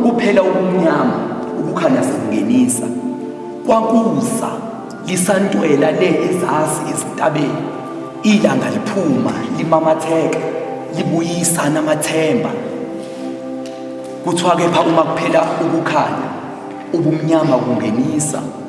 Kuphela ubumnyama ukukhanya sekungenisa kwakuza lisantwela le ezasi ezintabeni ilanga liphuma limamatheka libuyisa namathemba kuthiwa kepha uma kuphela ukukhanya ubumnyama kungenisa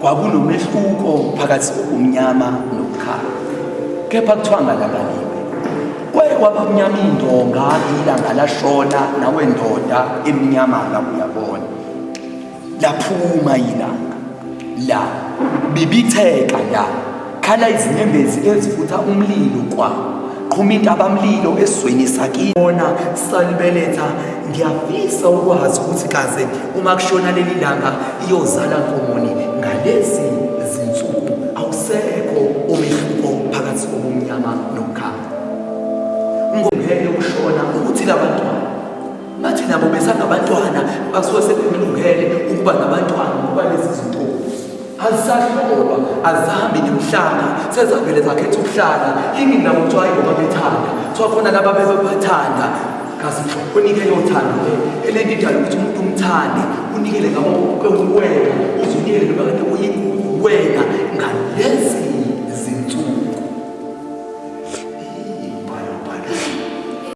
Kwakunomehluko phakathi kokumnyama nokukhala. Kepha kuthiwa ngalabaliwe. Kwaye kwabamnyama indonga ilanga lashona nawe ndoda emnyama la uyabona. Laphuma ilanga. La bibitheka la. Khala izinyembezi ezifutha umlilo kwa qhuma intabamlilo esweni sakini bona salibeletha ngiyafisa ukwazi ukuthi kaze uma kushona leli langa iyozala nkomoni ngalezi zinsuku awusekho umehluko phakathi kobumnyama nokukhanya ngomhele ukushona ukuthi labantwana bathi nabo besangabantwana basuke sebemlungele ukuba nabantwana ngoba lezi zinto azisahlolwa azihambi nemhlanga sezavele zakhetha ukuhlala yini nabo kuthiwa ayingoba bethanda kuthiwa khona laba bebebathanda kazi unike yothando le elento idala ukuthi umuntu umthande unikele ngabo kwewena uzunikele noma kade uyiwena ngalezi